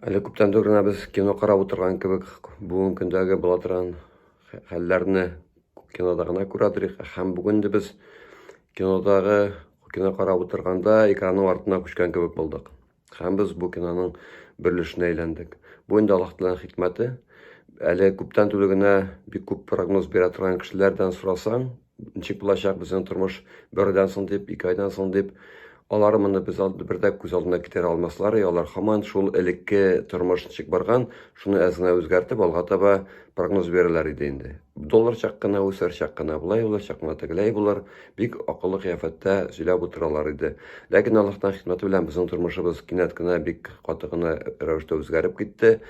Әле күптән түгел генә без кино карап утырган кебек бүгенге көндәге була торган хәлләрне кинода гына күрә торыйк. Һәм бүген дә без кинодагы кино карап утырганда экранның артына күчкән кебек булдык. Һәм без бу киноның бер өлешенә әйләндек. Бу инде Аллаһ Тәгаләнең хикмәте. Әле күптән түгел генә бик күп прогноз бирә торган кешеләрдән сорасаң, ничек булачак безнең тормыш бердән соң дип, ике айдан соң дип, алар моны без алды бер дә күз алдына китерә алмаслар, и алар хаман шул элекке тормыш ничек барган, шуны әз генә үзгәртеп алга таба прогноз бирәләр иде инде. Доллар чак кына үсәр, чак кына болай булыр, чак кына тегеләй булыр, бик акыллы кыяфәттә сөйләп утыралар иде. Ләкин Аллаһтан хикмәте белән безнең тормышыбыз кинәт кенә бик каты гына рәвештә үзгәреп китте.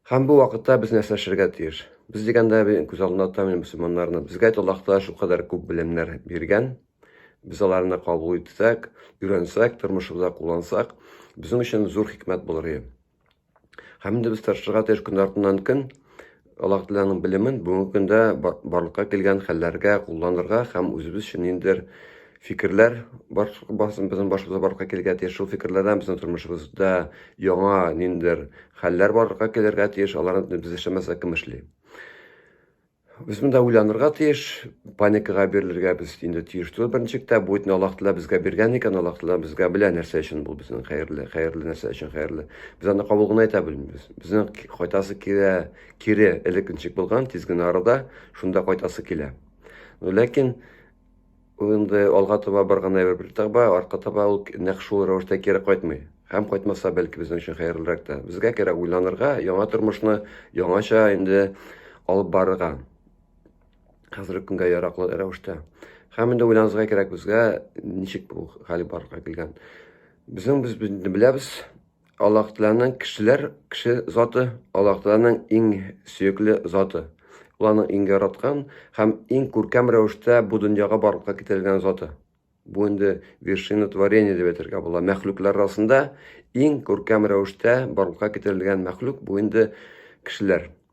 Һәм бу вакытта без нәрсә эшләргә тиеш? Без дигәндә мин күз алдына тотам инде мөселманнарны. Безгә әйт Аллаһ Тәгалә шулкадәр күп белемнәр биргән. Без аларны кабул итсәк, өйрәнсәк, тормышыбызда куллансак, безнең өчен зур хикмәт булыр иде. Һәм инде без тырышырга тиеш көн артыннан көн Аллаһ Тәгаләнең белемен бүгенге көндә барлыкка килгән хәлләргә кулланырга һәм үзебез өчен ниндидер фикерләр бар, барсын безнең башыбызга барлыкка килергә тиеш. Шул фикерләрдән безнең тормышыбызда яңа ниндидер хәлләр барлыкка килергә тиеш. Аларны без эшләмәсәк, кем эшли? Без монда уйланырга тиеш, паникага бирелергә без инде тиеш түгел. Беренче чиктә бу итне Аллаһ Тәгалә безгә биргән икән, Аллаһ Тәгалә безгә белә нәрсә өчен бу безнең хәерле, хәерле нәрсә өчен хәерле. Без аны кабул гына итә белмибез. Безнең кайтасы килә, кире элекенчек булган, тиз генә арада шунда кайтасы килә. Ләкин Ул инде алга таба барган әйбер бер таба, арка таба ул нәкъ шул рәвештә кире кайтмый. Һәм кайтмаса, бәлки безнең өчен хәерлерәк тә. Безгә кирәк уйланырга, яңа тормышны яңача инде алып барырга. Хәзерге көнгә яраклы рәвештә. Һәм инде уйланырга кирәк безгә, ничек бу хәл барырга килгән. Безнең без беләбез, Аллаһ Тәгаләнең кешеләр, кеше заты, Аллаһ Тәгаләнең иң сөекле заты. Ул аның иң яраткан һәм иң күркәм рәвештә бу дөньяга барлыкка китерелгән заты. Бу инде вершина творения дип әйтергә була. Мәхлуклар арасында иң күркәм рәвештә барлыкка китерелгән мәхлук бу инде кешеләр.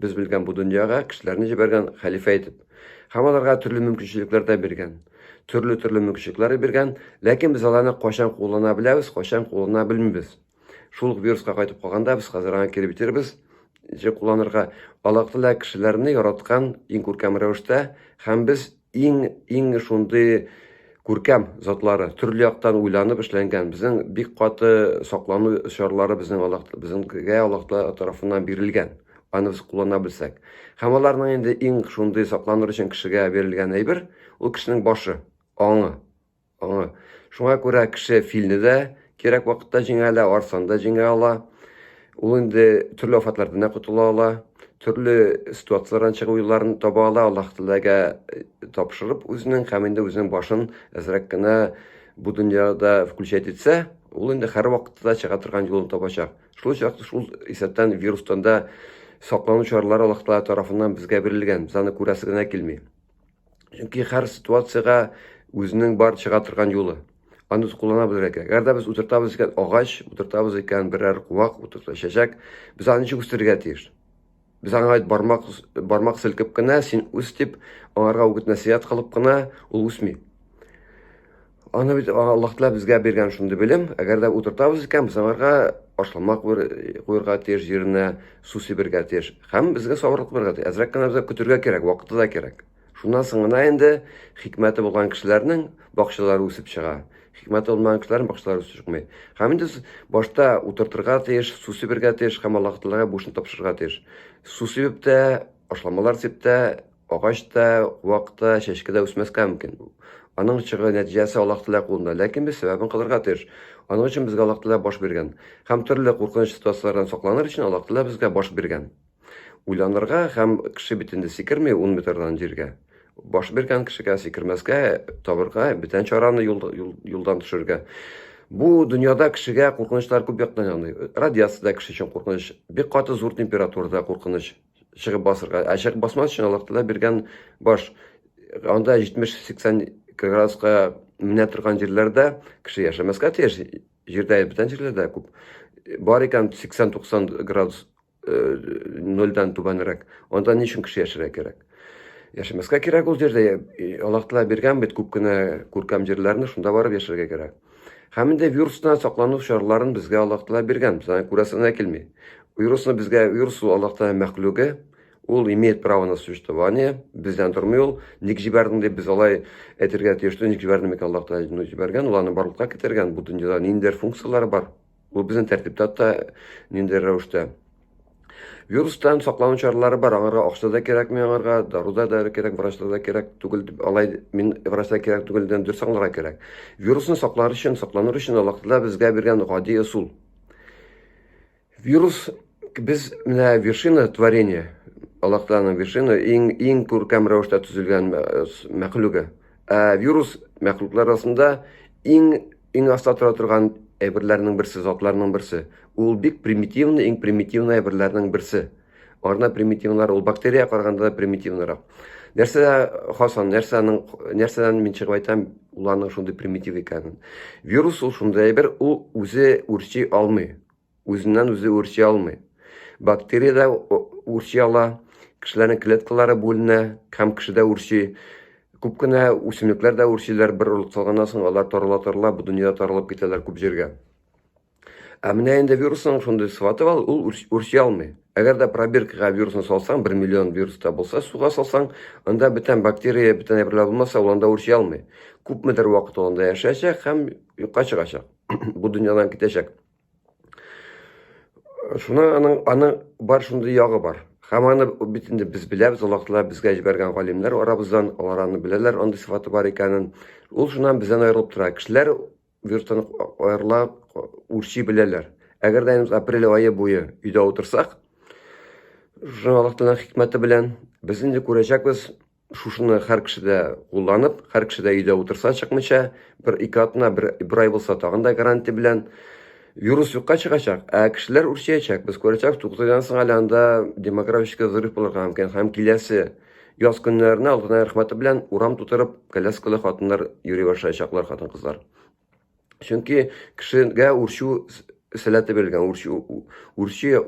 Без белгән бу дөньяга кешеләрне җибәргән хәлифә итеп. Һәм аларга төрле мөмкинчелекләр дә биргән. Төрле-төрле мөмкинчелекләр биргән, ләкин без аларны кайчан куллана беләбез, кайчан куллана белмибез. Шул ук вируска кайтып калганда без хәзер аңа кире бетербез, җе кулланырга. Аллаһ Тәгалә кешеләрне яраткан иң күркәм рәвештә, һәм без иң иң шундый күркәм затлары төрле яктан уйланып эшләнгән безнең бик каты саклану чаралары безнең Аллах безнеңгә Аллах тарафыннан бирелгән аны без куллана белсәк һәм аларның инде иң шундый сакланыр өчен кешегә бирелгән әйбер ул кешенең башы аңы Шуңа күрә кеше филне дә кирәк вакытта җиңә ала, арсаны да җиңә ала. Ул инде төрле афәтләрдән дә котыла ала, төрле ситуацияләрдән чыгу юлларын таба ала, Аллаһ Тәгаләгә э, тапшырып үзенең һәм инде үзенең башын әзрәк кенә бу дөньяда включать итсә, ул инде һәр вакытта чыга торган юлын табачак. Шул чак шул исәптән вирустан да саклану чаралары Аллаһ Тәгалә тарафыннан безгә бирелгән, без аны күрәсе генә килми. Чөнки һәр ситуацияга үзенең бар чыга торган юлы. Аны куллана белергә кирәк. Әгәр дә без утыртабыз икән агач, утыртабыз икән берәр куак, утырта чәчәк, без аны ничек үстерергә тиеш? Без аңа бармак бармак селкеп кенә син үс дип, аңарга үгет-нәсыят кылып кына ул үсми. Аны бит Аллаһ Тәгалә безгә биргән шундый белем, әгәр дә утыртабыз икән, без аңарга ашлама куерга тиеш җиренә, су сибергә тиеш. Һәм безгә сабырлык булырга тиеш. Әзрәк кенә безгә көтергә кирәк, вакыты да кирәк. Шуннан соң гына инде хикмәте булган кешеләрнең бакчалары үсеп чыга. Хикмәте булмаган кешеләрнең бакчалары үсеп чыкмый. Һәм инде башта утыртырга тиеш, су сибергә тиеш һәм Аллаһ Тәгаләгә бу эшне тапшырырга тиеш. Су сибеп тә, ашламалар сип тә, Агач та, куак та, чәчкә дә үсмәскә мөмкин. Аның чыгы, нәтиҗәсе Аллаһ Тәгалә кулында. Ләкин без сәбәбен кылырга тиеш. Аның өчен безгә Аллаһ Тәгалә баш биргән. Һәм төрле куркыныч ситуацияләрдән сакланыр өчен Аллаһ Тәгалә безгә баш биргән. Уйланырга һәм кеше бит инде сикерми ун метрдан җиргә. Баш биргән кешегә сикермәскә, табырга, бүтән чараны юлдан төшерергә. Бу дөньяда кешегә куркынычлар күп яктан яный. Радиация дә кеше өчен куркыныч, бик каты зур температура да куркыныч. чыгып басырга. Ә чыгып басмас өчен Аллаһ Тәгалә биргән баш. Анда 70-80 градуска менә торган җирләрдә кеше яшәмәскә тиеш. Җирдә бүтән җирләрдә күп. Бар икән 80-90 градус э, нольдән түбәнрәк. Анда ни өчен кеше яшәргә кирәк? Яшәмәскә кирәк ул җирдә. Аллаһ Тәгалә биргән бит күп кенә күркәм җирләрне, шунда барып яшәргә кирәк. Һәм инде вирустан саклану чараларын безгә Аллаһ Тәгалә биргән. Без аны күрәсе генә килми. Вирусны безгә вирус ул Аллаһ Тәгалә мәхлугы. Ул имеет право на существование. Бездән тормый ул. Ник җибәрдең дип без алай әйтергә тиеш түгел. Ник җибәрде микән Аллаһ Тәгалә? Ну, җибәргән, ул аны барлыкка китергән. Бу дөньяда ниндидер функцияләре бар. Бу безнең тәртиптә та ниндидер рәвештә. Вирустан саклану чаралары бар, аңарга акча да кирәкми, аңарга дару да да кирәк, врачта да кирәк түгел, дип алай мин врачта кирәк түгел дигән дөрес аңларга кирәк. Вирусны саклар өчен, сакланыр өчен Аллаһтала безгә биргән гади ысул. Вирус без менә вершина творения, Аллаһталаның вершина иң иң күркәм рәвештә төзелгән мәхлүге. Ә вирус мәхлуклар арасында иң иң аста тора торган әйберләрнең берсе, затларның берсе. Ул бик примитивный, иң примитивный әйберләрнең берсе. Арна примитивнар, ул бактерия караганда да примитивнарак. Нәрсә хасан, нәрсәнең нәрсәдән мин чыгып әйтәм, уларның шундый примитив икәнен. Вирус ул шундый әйбер, ул үзе үрчи алмый. Үзеннән үзе үрчи алмый. Бактериядә үрчи ала, кешеләрнең клеткалары бүленә һәм кешедә үрчи. Күп кенә үсемлекләр дә үрчиләр, бер орлык салганнан соң алар тарала-тарала бу дөньяда таралып китәләр күп җиргә. Ә менә инде вирусның шундый сыфаты бар, ул үрчи алмый. Әгәр дә пробиркага вирусны салсаң, 1 миллион вирус та булса, суга салсаң, анда бүтән бактерия, бүтән әйберләр булмаса, ул анда үрчи алмый. Күпмедер вакыт ул анда яшәячәк һәм юкка чыгачак. Бу дөньядан китәчәк. Шуна аның, аның бар шундый ягы бар. Һәм аны бит инде без беләбез, Аллаһтала безгә җибәргән галимнәр арабыздан, алар аны беләләр, андый сыфаты бар икәнен. Ул шуннан бездән аерылып тора. Кешеләр вирустан аерыла, үрчи беләләр. Әгәр дә апрель айы буе өйдә утырсак, шуның Аллаһталаның хикмәте белән без инде күрәчәкбез, Шушыны һәр кеше дә кулланып, һәр кеше дә өйдә утырса чыкмыйча, бер ике атна, бер, бер ай булса тагын да гарантия белән вирус юкка чыгачак, ә кешеләр үрчиячәк. Без күрәчәк, тугыз айдан соң әле анда демографический взрыв булырга мөмкин. Һәм киләсе яз көннәренә Алтынай рәхмәте белән урам тутырып коляскалы хатыннар йөри башлаячаклар, хатын-кызлар. Чөнки кешегә үрчү сәләте бирелгән, үрчү, үрчү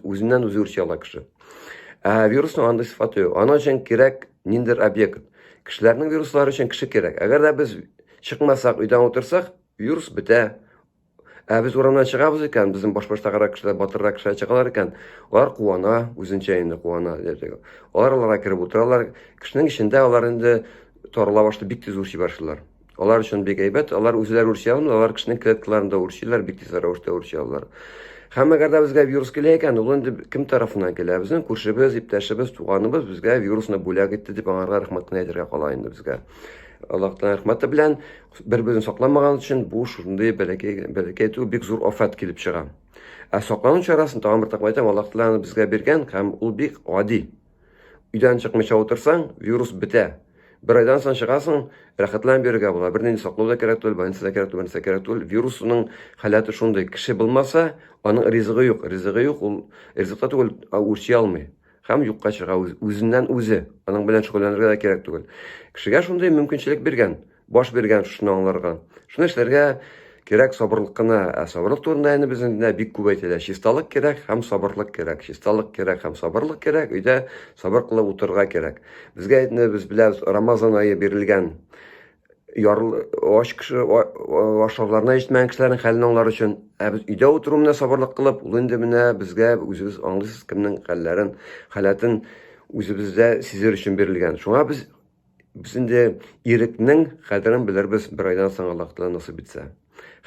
үзеннән үзе үрчи ала кеше. Ә вирусның андый сыйфаты юк. Аның өчен кирәк ниндер объект. Кешеләрнең вируслары өчен кеше кирәк. Әгәр дә без чыкмасак, өйдән утырсак, вирус бетә. Ә без урамнан чыгабыз икән, безнең башбаштагырак кешеләр, батыррак кешеләр чыгалар икән, алар куана, үзенчә инде куана. Алар аларга кереп утыралар. Кешенең эчендә алар инде тарала башлый, бик тиз үрчи башлыйлар. Алар өчен бик әйбәт. Алар үзләре үрчи алмый, алар кешенең клеткаларын да үрчиләр, бик тиз рәвештә үрчи алалар. Һәм әгәр дә безгә вирус килә икән, ул инде кем тарафыннан килә? Безнең күршебез, иптәшебез, туганыбыз безгә вирусны бүләк итте дип аңарга рәхмәт кенә әйтергә кала инде безгә. Аллаһтан рәхмәте белән бер-берен сакламаган өчен бу шундый бәләкәй бәләкәй түгел, бик зур афәт килеп чыга. Ә саклану чарасын тагын бер тапкыр әйтәм, Аллаһ Тәгалә безгә биргән һәм ул бик гади. Өйдән чыкмыйча утырсаң, вирус бетә. Бер айдан соң чыгасың, рәхәтләнеп йөрергә була. Бернинди саклау да кирәк түгел, больница да кирәк түгел, бернәрсә кирәк түгел. Вирусның халәте шундый. Кеше булмаса, аның ризыгы юк. Ризыгы юк, ул ризыкта түгел, а үрчи алмый. Һәм юкка чыга үзеннән үзе. Аның белән шөгыльләнергә дә кирәк түгел. Кешегә шундый мөмкинчелек биргән. баш биргән, шуны аңларга. Шуны эшләргә кирәк сабырлык кына. Ә сабырлык турында инде безнең дә бик күп әйтелә. Чисталык кирәк һәм сабырлык кирәк. Чисталык кирәк һәм сабырлык кирәк. Өйдә сабыр кылып утырырга кирәк. Безгә инде без беләбез, Рамазан ае бирелгән. Ярл ач кеше ашарларына җитмәгән кешеләрнең хәлен аңлар өчен. Ә без өйдә утыру менә сабырлык кылып, ул инде менә безгә үзебез аңлыйсыз кемнең хәлләрен, халәтен үзебездә сизер өчен бирелгән. Шуңа без Без инде ирекнең кадерен белербез бер айдан соң Аллаһ Тәгалә насыйп итсә.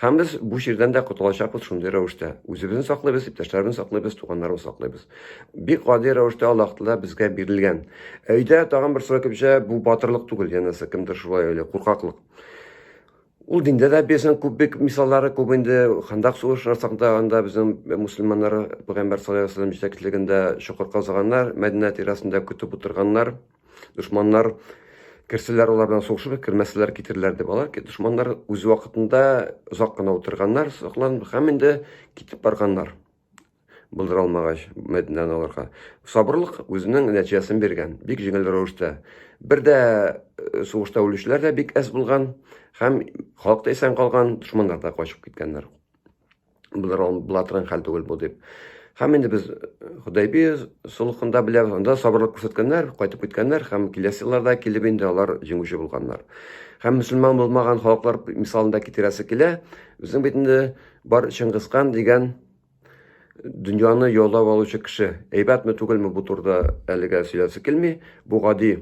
Һәм без бу җирдән дә котылачакбыз шундый рәвештә. Үзебезне саклыйбыз, иптәшләребезне саклыйбыз, туганнарыбызны саклыйбыз. Бик гади рәвештә Аллаһ Тәгалә безгә бирелгән. Өйдә тагын бер сорау килеп бу батырлык түгел, янәсе кемдер шулай уйлый, куркаклык. Ул диндә дә безнең күп бик мисаллары күп инде. Хандак сугышы расында анда безнең мусульманнар пәйгамбәр саллаллаху алейһи вәсәлләм җитәкчелегендә чокыр казыганнар, Мәдинә тирәсендә көтеп утырганнар. Дошманнар керсәләр, алар белән сугышып, кермәсәләр китерләр дип. Алар дошманнар үз вакытында озак кына утырганнар, сокланып һәм инде китеп барганнар. булдыра алмагач, Мәдинәне алырга. Сабырлык үзенең нәтиҗәсен биргән. Бик җиңел рәвештә. Бер дә э, сугышта үлүчеләр дә бик әз булган һәм халык та исән калган, дошманнар да качып киткәннәр. Булдыра була торган хәл түгел бу дип. Һәм инде без Худайби сулыхында беләбез, анда сабырлык күрсәткәннәр, кайтып киткәннәр һәм киләсе елларда килеп инде алар җиңүче булганнар. Һәм мөселман булмаган халыклар мисалында китерәсе килә. Безнең бит инде Бар Чыңгызхан дигән дөньяны яулап алучы кеше. Әйбәтме түгелме бу турда әлегә сөйләсе килми. Бу гади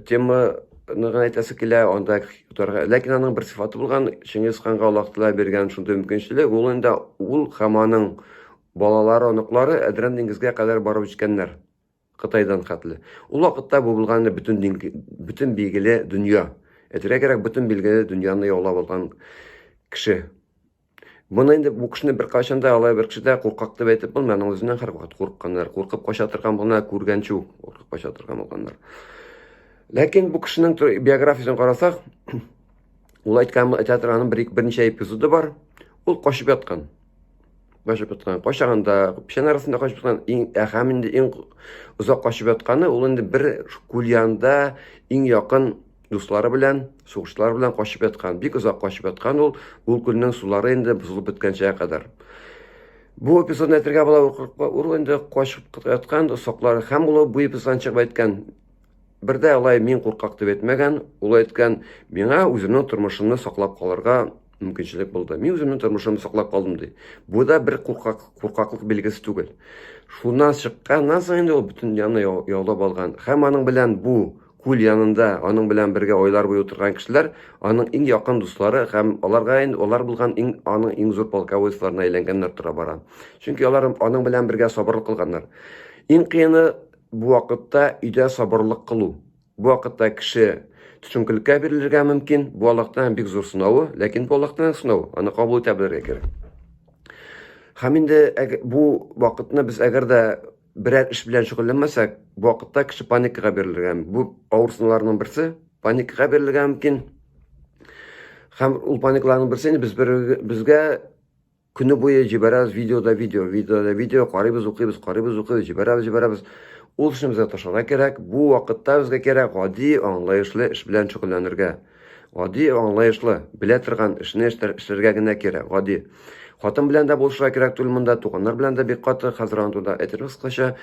тема гына әйтәсе килә, анда тутарга. Ләкин аның бер сыйфаты булган, Чингиз ханга Аллаһ Тәгалә биргән шундый мөмкинчелек, ул инде ул һәм аның балалары, оныклары Әдрән диңгезгә кадәр барып җиткәннәр. Кытайдан хәтле. Ул вакытта бу булган бөтен дин, бөтен билгеле дөнья. Әйтергә кирәк, бөтен билгеле дөньяны яулап алган кеше. Моны инде бу кешене бер кайчан да алай бер кеше дә куркак дип әйтеп булмый, аның үзеннән һәрвакыт курыкканнар, куркып кача торган булган, күргәнчү куркып кача торган булганнар. Ләкин бу кешенең биографиясен карасак, ул әйткән әйтә торган бер берничә эпизоды бар. Ул качып яткан. качып яткан кайчагында печән арасында качып яткан иң ә һәм инде иң озак качып ятканы ул инде бер күл янында иң якын дуслары белән сугышлар белән качып яткан бик озак качып яткан ул ул күлнең сулары инде бозылып беткәнчә кадәр бу эпизодны әйтергә була ул инде качып яткан соклар һәм ул бу эпизодтан чыгып әйткән бер дә алай мин куркак дип әйтмәгән ул әйткән миңа үземнең тормышымны саклап калырга мөмкинчелек булды. Мин үземнең тормышымны саклап калдым ди. Бу да бер куркак, куркаклык билгесе түгел. Шуннан чыкканнан соң инде ул бөтен янны яулап алган. Һәм аның белән бу күл янында, аның белән бергә айлар буе утырган кешеләр, аның иң якын дуслары һәм аларга инде алар булган иң аның иң зур полководецларына әйләнгәннәр тора бара. Чөнки алар аның белән бергә сабырлык кылганнар. Иң кыены бу вакытта өйдә сабырлык кылу. Бу вакытта кеше төшенкелеккә бирелергә мөмкин. Бу Аллаһтан бик зур сынавы, ләкин бу Аллаһтан сынау, аны кабул итә белергә кирәк. Һәм инде бу вакытны без әгәр дә берәр эш белән шөгыльләнмәсәк, бу вакытта кеше паникага бирелергә. Бу авыр сынауларның берсе, паникага бирелергә мөмкин. Һәм ул паникларның берсе инде без безгә Көне буе җибәрәбез видео да видео, видео да видео, карыйбыз, укыйбыз, карыйбыз, укыйбыз, җибәрәбез, җибәрәбез. Ул эшне безгә ташларга кирәк. Бу вакытта безгә кирәк гади, аңлаешлы эш белән шөгыльләнергә. Гади, аңлаешлы, белә торган эшне эшләргә генә кирәк, гади. Хатын белән дә булышырга кирәк түгел монда, туганнар белән дә бик каты, хәзер аны турында әйтергә кыскача.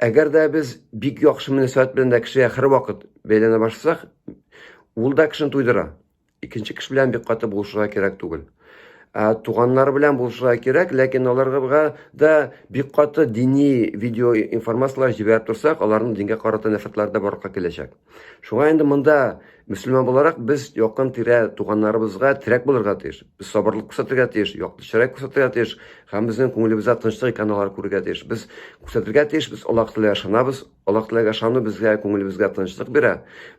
Әгәр дә без бик яхшы мөнәсәбәт белән дә кешегә һәрвакыт бәйләнә башласак, ул да кешене туйдыра. Икенче кеше белән бик каты булышырга кирәк түгел. Ә туганнары белән булышырга кирәк, ләкин аларга да бик каты дини видео информацияләр җибәреп торсак, аларның дингә карата нәфрәтләре дә барлыкка киләчәк. Шуңа инде монда мөселман буларак без якын тирә туганнарыбызга терәк булырга тиеш. Без сабырлык күрсәтергә тиеш, якты чырай күрсәтергә тиеш һәм безнең күңелебездә тынычлык икәнен алар күрергә тиеш. Без күрсәтергә тиеш, без Аллаһ Тәгаләгә ышанабыз, Аллаһ Тәгаләгә ышану безгә күңелебезгә тынычлык бирә.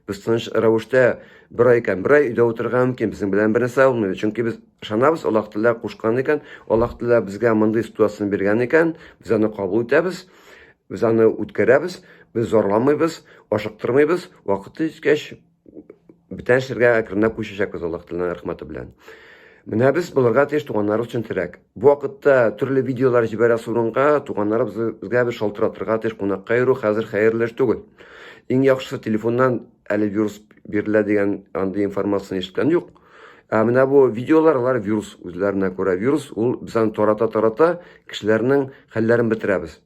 Без тыныч рәвештә бер ай икән, бер ай өйдә утырырга мөмкин, безнең белән бер нәрсә булмый. Чөнки без ышанабыз, Аллаһ Тәгалә кушкан икән, Аллаһ Тәгалә безгә мондый ситуацияне биргән икән, без аны кабул итәбез, без аны үткәрәбез, без зарланмыйбыз, ашыктырмыйбыз, вакыты җиткәч, бетән шергә әкренләп күчәчәкбез Аллаһ Тәгаләнең рәхмәте белән. Менә без булырга тиеш туганнар өчен терәк. Бу вакытта төрле видеолар җибәрә сурынга, туганнарыбыз безгә бер шалтыратырга тиеш, кунакка йөрү хәзер хәерле эш түгел. Иң яхшысы телефоннан әле вирус бирелә дигән андый информацияне ишеткән юк. Ә менә бу видеолар алар вирус үзләренә күрә вирус, ул без аны тарата-тарата кешеләрнең хәлләрен бетерәбез.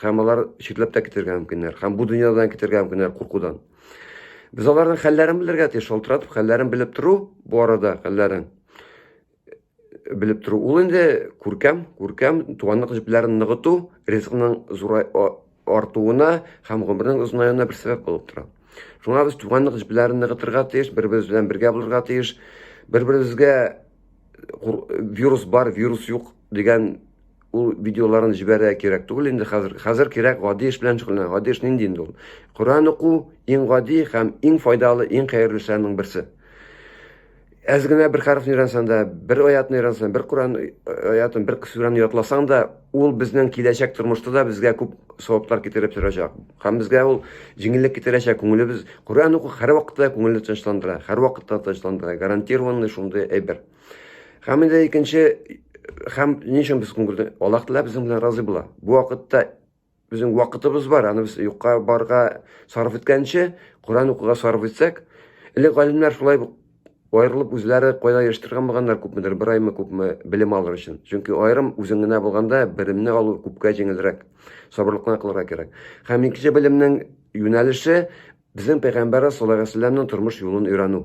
Хәм алар читләп тә китергә мөмкиннәр. Хәм бу дөньядан китергә мөмкиннәр куркудан. Без аларның хәлләрен белергә тиеш, шалтыратып хәлләрен белеп тору, бу арада хәлләрен белеп тору. Ул инде күркәм, күркәм туганлык җепләрен ныгыту, ризыкның зурай артуына һәм гомернең озынаюына бер сәбәп булып тора. Шуңа без туганлык җепләрен ныгытырга тиеш, бер-беребез белән бергә булырга тиеш. Бер-беребезгә вирус бар, вирус юк дигән Ул видеоларын җибәрә кирәк түгел инде хәзер. Хәзер кирәк гади эш белән шөгыльләнә. Гади эш нинди инде ул? Коръән уку иң гади һәм иң файдалы, иң хәерлешләрнең берсе. Әз генә бер хәрефне өйрәнсәң дә, бер аятны өйрәнсәң, бер Коръән аятын, бер сүрәне ятласаң да, ул безнең киләчәк тормышта да безгә күп саваплар китереп торачак. Һәм безгә ул җиңеллек китерәчәк. Күңелебез Коръән уку һәрвакытта күңелне тынычландыра, һәрвакытта тынычландыра. Гарантированный шундый әйбер. Һәм инде икенче һәм ни өчен без күңелне Аллаһ Тәгалә безнең белән разый була. Бу вакытта безнең вакытыбыз бар, аны без юкка барга сарыф иткәнче, Коран укуга сарыф итсәк, элек галимнәр шулай аерылып үзләре кайда яшьтергән булганнар күпмедер, бер аймы күпме белем алыр өчен. Чөнки аерым үзең генә булганда белемне алу күпкә җиңелрәк, сабырлыкны кылырга кирәк. Һәм икенче белемнең юнәлеше Безнең пәйгамбәрәс саллаллаһу галәйһи ва сәлләмнең тормыш юлын өйрәнү.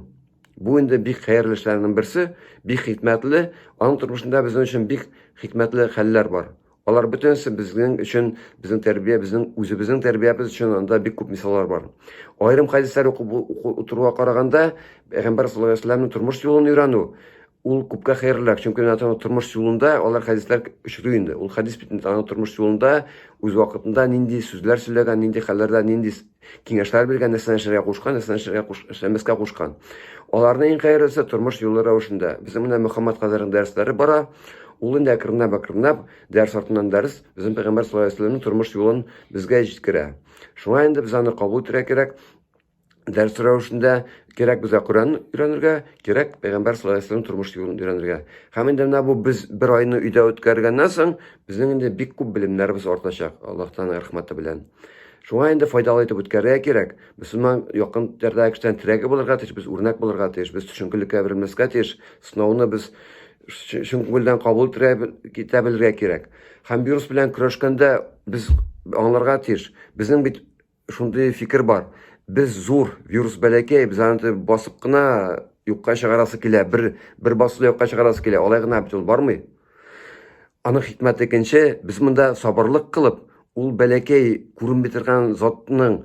Бу инде бик хәерле эшләрнең берсе, бик хикмәтле, аның тормышында безнең өчен бик хикмәтле хәлләр бар. Алар бөтенесе безнең өчен, безнең тәрбия, безнең үзебезнең тәрбиябез өчен анда бик күп мисаллар бар. Аерым хәдисләр укып утыруга караганда, пәйгамбәр саллаллаһу галәйһи ва сәлләмнең тормыш юлын өйрәнү ул күпкә хәерлерәк, чөнки менә аның тормыш юлында алар хәдисләр очрый инде. Ул хәдис бит инде аның тормыш юлында үз вакытында нинди сүзләр сөйләгән, нинди хәлләрдә, нинди киңәшләр биргән, нәрсәләр эшләргә кушкан, нәрсәләр эшләргә куш, эшләмәскә кушкан. Аларның иң хәерлесе тормыш юлы рәвешендә. Безнең менә Мөхәммәд Хәзрәтнең дәресләре бара. Ул инде әкренләп әкренләп дәрес артыннан дәрес безнең пәйгамбәр саллаллаху алейһи вәсәлләмнең тормыш юлын безгә җиткерә. Шуңа инде без аны кабул итәргә кирәк. Дәрес рәвешендә кирәк безгә Коръән өйрәнергә, кирәк пәйгамбәр саллаллаху алейһи вәсәлләм тормыш юлын өйрәнергә. Һәм инде менә бу без бер айны өйдә үткәргәннән соң, безнең инде бик күп белемнәребез артачак Аллаһ Тәгаләнең рәхмәте белән. Шуңа инде файдалы итеп үткәрергә кирәк. Мөселман якын ярдәге кешедән терәге булырга тиеш, без үрнәк булырга тиеш, без төшенкелеккә әверелмәскә тиеш. Сынауны без чын күңелдән кабул итә белергә кирәк. Һәм вирус белән көрәшкәндә без аңларга тиеш. Безнең бит шундый фикер бар. Без зур, вирус бәләкәй, без аны басып кына юкка чыгарасы килә, бер бер басуда юкка чыгарасы килә. Алай гына бит ул бармый. Аның хикмәте икенче, без монда сабырлык кылып, ул бәләкәй күренми торган затның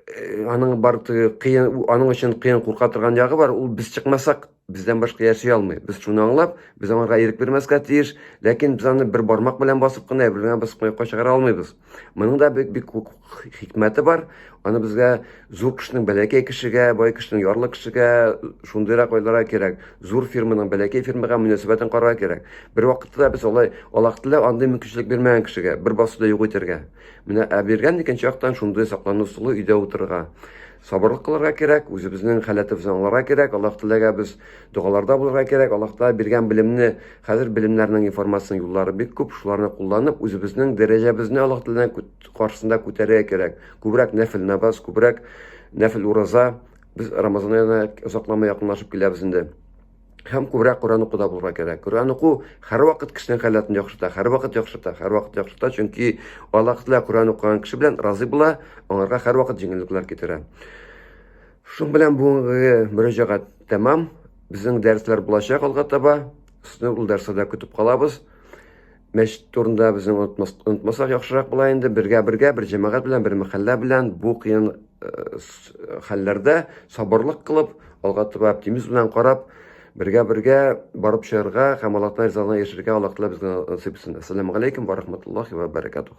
э, аның бар кыен, аның өчен кыен курка торган ягы бар, ул без чыкмасак, бездән башка яши алмый. Без шуны аңлап, без аңарга ирек бирмәскә тиеш, ләкин без аны бер бармак белән басып кына, бер генә басып кына чыгара алмыйбыз. Моның да бик бик хикмәте бар. Аны безгә зур кешенең бәләкәй кешегә, бай кешенең ярлы кешегә шундыйрак ойларга кирәк. Зур фирманың бәләкәй фирмага мөнәсәбәтен карарга кирәк. Бер вакытта без алай Аллаһ Тәгалә андый мөмкинчелек бирмәгән кешегә бер басуда юк итәргә. Менә ә биргән икенче яктан шундый саклану сулы өйдә утырырга. Сабырлык кылырга кирәк, үзебезнең халәтебезне аңларга кирәк, Аллаһ Тәгаләгә без догаларда булырга кирәк, Аллаһ Тәгалә биргән белемне, хәзер белемнәрнең информациянең юллары бик күп, шуларны кулланып, үзебезнең дәрәҗәбезне Аллаһ Тәгаләнең күт- каршысында күтәрергә кирәк. Күбрәк нәфел намаз, күбрәк нәфел ураза. Без Рамазан аена озакламый якынлашып киләбез инде. һәм күбрәк Коръән укуда булырга кирәк. Коръән уку һәрвакыт кешенең халәтен яхшырта, һәрвакыт яхшырта, һәрвакыт яхшырта, чөнки Аллаһ Тәгалә Коръән укыган кеше белән разый була, аңарга һәрвакыт җиңеллекләр китерә. Шуның белән бүгенге мөрәҗәгать тәмам. Безнең дәресләр булачак алга таба. Сезне ул дәресләрдә көтеп калабыз. Мәчет турында безнең онытмасак яхшырак була инде. Бергә-бергә, бер җәмәгать белән, бер мәхәллә белән бу кыен э, хәлләрдә сабырлык кылып, алга таба оптимизм белән карап, бергә-бергә барып чыгарга һәм Аллаһтан ризалыгына ирешергә Аллаһ Тәгалә безгә насыйп итсен. Ассаламу алейкум ва рахматуллахи ва баракатух.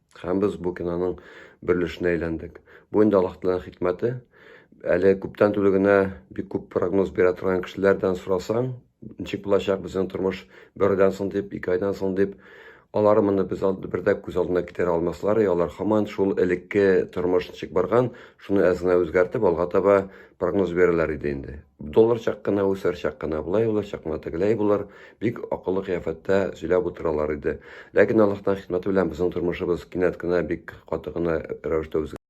Һәм без бу киноның бер өлешенә әйләндек. Бу инде Аллаһ Тәгаләнең хикмәте. Әле күптән түгел генә бик күп прогноз бирә торган кешеләрдән сорасаң, ничек булачак безнең тормыш бер айдан соң дип, ике айдан соң дип, алар моны без алды бер дә күз алдына китерә алмаслар, и алар хаман шул элекке тормыш ничек барган, шуны әз генә үзгәртеп алга таба прогноз бирәләр иде инде. доллар чак кына үсәр, чак кына болай булыр, чак кына тегеләй булыр. Бик акыллы кыяфәттә сөйләп утыралар иде. Ләкин Аллаһтан хикмәте белән безнең тормышыбыз кинәт кенә бик каты гына рәвештә